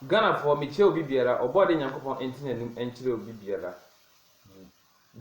Ghana foɔ me kyɛ obi biara ɔbɔ ade nyankopɔn nte nanum nkyerɛ obi biara mu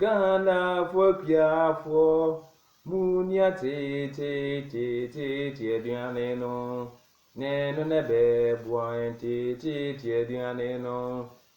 Ghana foɔ akuafoɔ mu nia teeteeteeteete aduane no ne no nɛ bɛ boa yɛn teeteete aduane no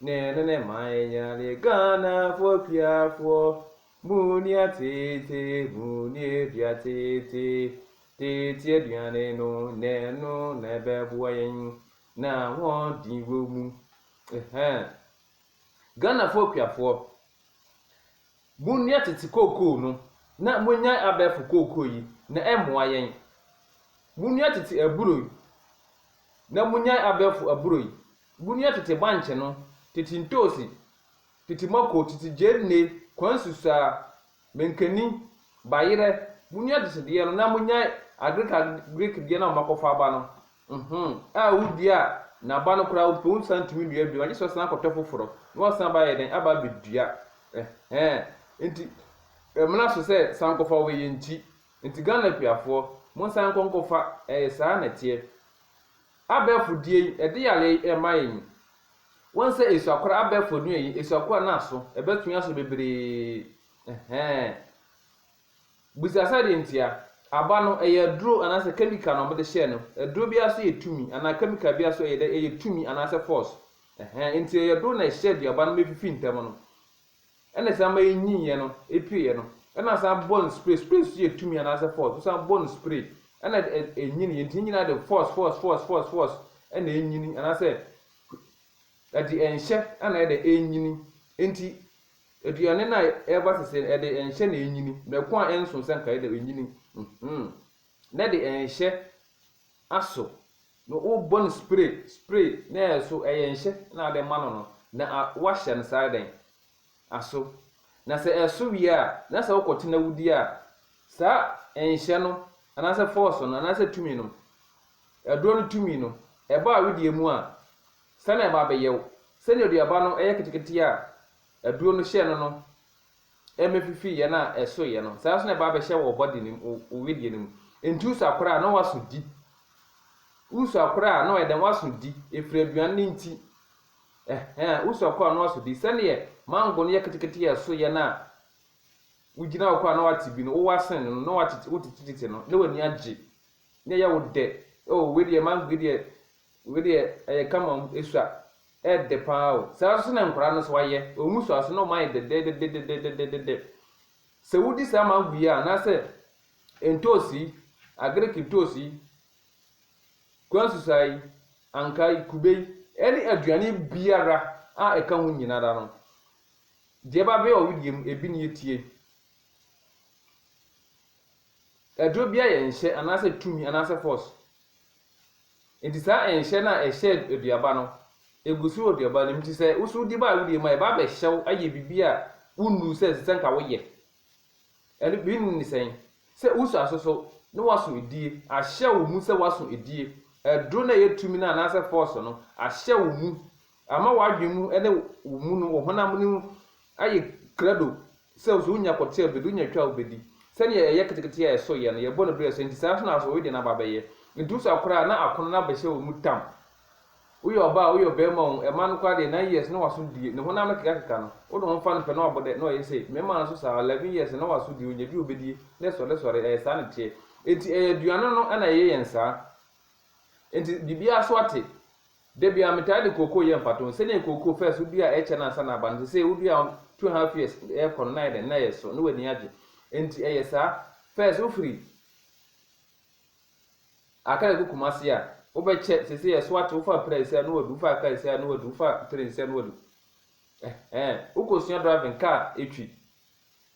Ne ne ne man nyale Ghana foɔ kuafoɔ Mu ni atete mu ni adua tete Tete aduane no na ɛno na ɛbɛboa yɛn Na ahoɔden wɔ mu ɛhɛn Ghana foɔ kuafoɔ Mu ni atete kookoo no na mo nyae abɛɛfo kookoo yi na ɛmmoa yɛn Mu ni atete aburo yi na mo nyae abɛɛfo aburo yi Bunia tete bankye no, tete ntoosi, tete mako, tete gyeene, kwansu saa, mankani, bayerɛ, munya tete deɛ no na munya agric agric deɛ no a moakɔfa aba no uhmm a wodua a n'aba no koraa wopɛ wonsan ntumi nnua bio agyesɛ ɔsan akɔtɔ foforɔ na wasan aba ayɛ dɛn aba abɛdua ɛhɛɛ nti ɛmena so sɛ sankɔfa wɔ yɛn ti nti Ghana akuafoɔ monsan nkɔ nkɔfa ɛyɛ saa na ɛteɛ Abɛɛfo die yi ɛde yareɛ yi ɛma yɛn. Woahu sɛ esuakora abɛɛfo adua yi esuakora no aso ɛbɛtwe aso bebree ɛhɛɛn. Bisa sɛ deɛ ntia. Aba no ɛyɛ aduro anaasɛ kɛmika na wɔde hyɛɛ no. Aduro biara so yɛ tumi anaa kɛmika biara so ɛyɛ dɛ ɛyɛ tumi anaasɛ force ɛhɛɛn. Nti ɛyɛ doo na ɛhyɛ aduaba no ma efifi ntɛm no. ɛna ɛsan ma enyiiɛ no epueɛ no ɛna asan bɔ no spray spray nso yɛ tumi anaasɛ force wosan bɔ no spray ɛna enyiniiɛ nti ne nyinaa de force force force force force ɛna enyini anaasɛ ɛde ɛnhyɛ ɛna ɛde enyini nti aduane no a ɛba sese no ɛde ɛnhyɛ na enyini mɛko a ɛnso sɛ nka ɛde enyini mhm na ɛde ɛnhyɛ Aso no wo bɔ no spray spray na ɛso ɛyɛ nhyɛ na ade ma no no na a wa hyɛ no saa dɛn aso na sɛ ɛso wie a na sɛ wo kɔ tena wo di a saa nhyɛ no anaasɛ force no anaasɛ tumi no aduro no tumi no ɛba a wo deɛ mu a sɛ na ɛba abɛyɛ wo sɛdeɛ aduaba no ɛyɛ ketekete a aduro no hyɛ no no mɛfifi yɛn a ɛso yɛ no, saa ara nso na ɛba abɛhyɛ wɔ body no mu, wo wedeɛ no mu. Nti wosɔ akora a na waso di, wosɔ akora a na ɔyɛ dɛn waso di, ɛfiri aduane no nti, ɛhɛn, wosɔ akora a na waso di, sɛdeɛ mango no yɛ ketekete a ɛso yɛ no a, wogyina hɔ koraa na wate bi no, wowɔ asen no no, na wotete, wotetetete no, na w'ani agye, na ɛyɛ wo dɛ, oh wei deɛ mango yi deɛ, Wei deɛ ɛyɛ kama mu ɛsua ɛɛdɛ paa o saa nso na nkwadaa no so ayɛ wɔn mu sua so na wɔn ayɛ dɛdɛdɛdɛdɛdɛdɛdɛdɛ sɛ wodi saa mango yi a anaasɛ ntoosi yi agric ntoosi yi kwansusa yi ankaa yi kube yi ɛne aduane biara a ɛka ho nyinara no deɛ ɛba bɛyɛ ɔwedeɛ mu ebi ne yɛtie Aduro biara yɛ nhyɛ anaasɛ tumi anaasɛ force. Enti saa nhyɛ no a ɛhyɛ aduaba no, ɛgu so wɔ aduaba no mu. Enti sɛ wo so wodi ba a wodie mu a, ɛba bɛhyɛ wo ayɛ biribi a wonnuu sɛ ɛsɛ sɛ nka woyɛ. Ɛno bi ne sɛn? Sɛ woso asoso na woaso edie, ahyɛ wo mu sɛ woaso edie. Aduro no a ɛyɛ tumi no anaasɛ force no ahyɛ wo mu Ama w'adwene mu ne wo mu no wɔ honam no mu ayɛ krado sɛ wo so wunya kɔte a wubedi, wunya twa a wubedi. Sɛnea yɛyɛ ketekete a ɛso yɛ no, yɛbɔ no bere a ɛsɛ, enti saa ara nso na asoɔe de no aba abɛyɛ. Enti wo so akora a na akono no abɛhyɛ wo mu tam. Woyɛ ɔbaa oo, woyɛ ɔbarima oo, ɛmma no koraa deɛ, nine years na w'aso die, ne honam no kekakeka no, wo ne ho mfa no pɛ na wabɔ dɛ, na ɔyɛ sei. Mmarima no nso saa ara, eleven years na w'aso die, onya bi a obedie, na sɔresɔre, ɛyɛ saa na ɛteɛ. Enti ɛyɛ aduane no na ɛyɛ yɛn saa. Enti biribiara so ate. Da biara metaa de kookoo yɛ mfatoho. Sɛnea nkookoo first wodua a ɛkyɛ no ansa na aba no, seesei wodua a two and half years rekɔ no na ayɛ dɛn? Na ɛreso, na w'ani agye. Enti ɛyɛ saa. First wofiri Akra kɔ Kumasi a, wobɛkyɛ, seesei ɛso ate, wofa Apira Asia na wadu, wofa Akra Asia na wadu, wofa Tren Asia na wadu. Ɛhɛɛ, wokɔsua driving, kaa, etwi.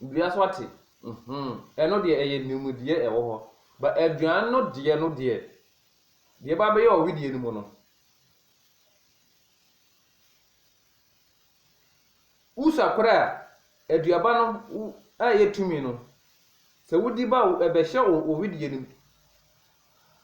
Dua so ate mm-hmm ɛno deɛ ɛyɛ nimdeɛ ɛwɔ hɔ but aduan no deɛ no deɛ deɛ ɛba bɛyɛ wɔ wedeɛ no mu no wosa kora a aduaba no a ɛyɛ tumi no sɛ wodi ba ɛbɛhyɛ wɔ wedeɛ no mu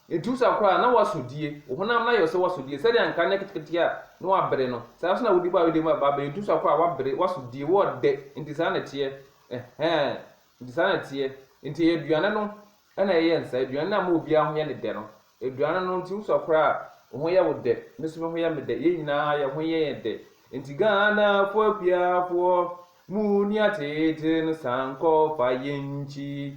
Etu sa koraa a, na woasɔ die. Wo honam no ayɛ wo sɛ woasɔ die. Sɛdeɛ anka anyɛ ketekete a, na woabere no. Saa ara nso na wode ba ayedeɛ mu a, baabi a etu sa koraa a, woabere, woasɔ die, woɔdɛ. Enti saa na ɛteɛ. Ɛhɛɛ, enti saa na ɛteɛ. Enti ɛyɛ aduane no na ɛyɛ nsa, aduane no a ama obiara ho yɛ no dɛ no. Aduane no nti wosa koraa a, wo ho yɛ wo dɛ. Me nso me ho yɛ me dɛ. Yɛn nyinaa yɛn ho yɛ yɛn dɛ. Enti Ghanafoɔ akuafoɔ, monni ateetee no san kɔ fa yɛn nkyi.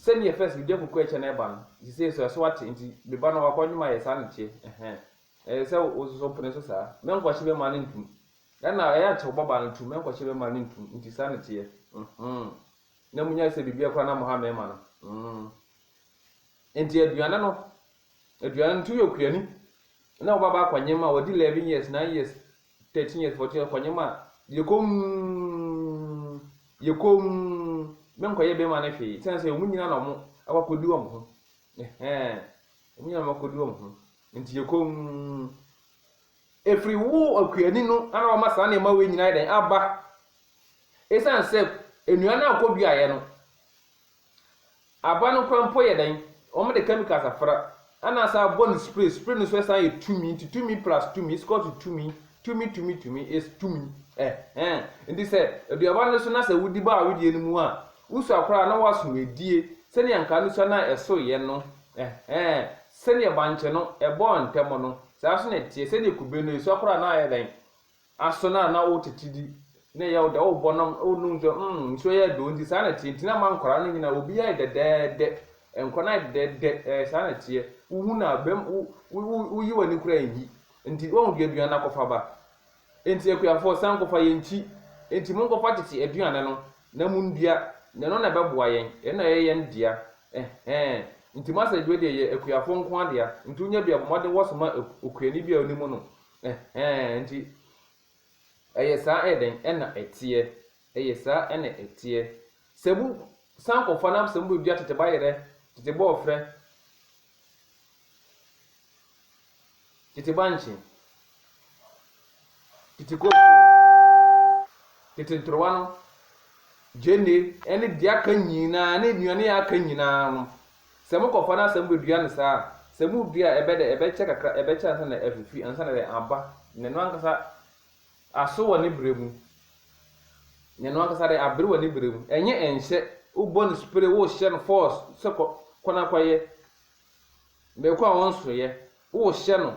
Sɛdeɛ first me gya kuku ɛkyɛ na ɛba no nti sei so ɛso ate nti me ba no wakɔ nnwom ayɛ saa na ɛteɛ ɛhɛn ɛyɛ sɛ wo nso so pene so saa mɛnkɔkye me mma no ntum ɛna ɛyɛ nti wobɔ baa no tum mɛnkɔkye me mma no ntum nti saa na ɛteɛ mm na mo nya sɛ biribiara koraa na mo ha mɛma no mm nti aduane no aduane no nti woyɛ okuani na wo ba ba akɔ nnwom a wadi 11 years 9 years Thirteen years, fourteen years, kɔnyem a, yɛkɔm, yɛkɔm, menkɔyɛ bɛrima no hwee, sɛn sɛ wɔn nyina na wɔn akɔkɔdi wɔn ho, ɛhɛn, wɔn nyina na wɔn akɔdi wɔn ho, nti yɛkɔm, ɛfiri wo akuani no ana wɔma saa nneɛma wei nyina ayɛ dɛn, aba, ɛsiane sɛ nnua no a wɔkɔduaeɛ no, Aboa no kora mpo yɛ dɛn? Wɔde chemicals afra na asan abɔ no spray, spray no nso san yɛ tumi, nti tumi plus tumi is equal to tumi, tumi tumi tumi is tumi ɛhɛn. Nti sɛ aduaba no so na sɛ wodi bɔ a wodie no mu a, wosua koraa na woaso adie sɛnea anka no sua no a ɛsoeɛ no ɛhɛn. Sɛnea bankye no ɛbɔɔ ntɛm no, saa nso na ɛteɛ, sɛnea kube no, ɛsua koraa na ayɛ dɛn? aso na na wo tete di na ɛyɛ wo dɛ wo bɔ nom wo nom nsuo mm nsuo yɛ dɛ onti saa na ɛteɛ nti na ama nkwadaa no nyinaa obi ayɛ dɛdɛɛdɛ nkwadaa no ayɛ dɛdɛɛdɛ ɛɛ saa na ɛteɛ wo hu no a bɛm wo wo wo wo yi w'ani koraa nyi nti wɔn deɛ aduane no akɔfa ba nti akuafoɔ san kɔfa yɛn kyi nti mo nkɔfa tete aduane no na mo ndua na ɛno na ɛbɛboa yɛn ɛno na ɛyɛ yɛn dea ɛhɛn nti mo asɛ adwuma deɛ yɛ akuafoɔ nko adea nti wonya bi abɔ mmɔden wɔsoma okuani bi a onim no Ɛhɛɛ, enti ɛyɛ saa ɛyɛ dɛn ɛna ɛteɛ? Ɛyɛ saa ɛna ɛteɛ. Sɛ mo san kɔfa na sɛ mo bɛ dua tete bayerɛ, tete bɔɔfrɛ, tete bankye, tete kookoo, tete ntorowa no, gyeene, ɛne deɛ aka nyinaa, ne nnuane a aka nyinaa no, Sɛ mokɔfa no asa mubedua no saa a, sɛ mudua a, ɛbɛdɛ, ɛbɛkyɛ kakra, ɛbɛkyɛ ansa na afifi, ansa na ayɛ aba, na ɛno ankasa aso wɔ ne berɛ mu, na ɛno ankasa dɛ abere wɔ ne berɛ mu, ɛnyɛ ɛnhyɛ, wobɔ no spray, wohyɛ no force sɛ kɔ, kɔ na kɔyɛ, mmerekɔ a wɔnsoeɛ, wohyɛ no,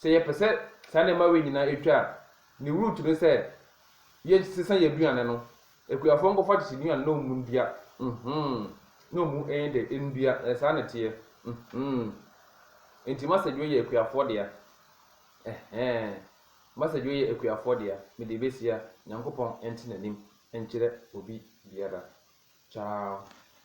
Sɛ yɛpɛ sɛ saa nneɛma wei nyinaa twa a, ne root ne sɛ yɛnsesa yɛn aduane no. Akuafoɔ nkɔfa akyekyeduane na wɔn nnua, mm-hmm, na wɔn ɛyɛ dɛ, nnua, ɛyɛ saa na ɛteɛ, mm-hmm. Enti massage wei yɛ akuafoɔ dea, ɛhɛɛ, massage wei yɛ akuafoɔ dea, mede bɛsia, Nyankopɔn nte n'anim nkyerɛ obi biara. Ciao.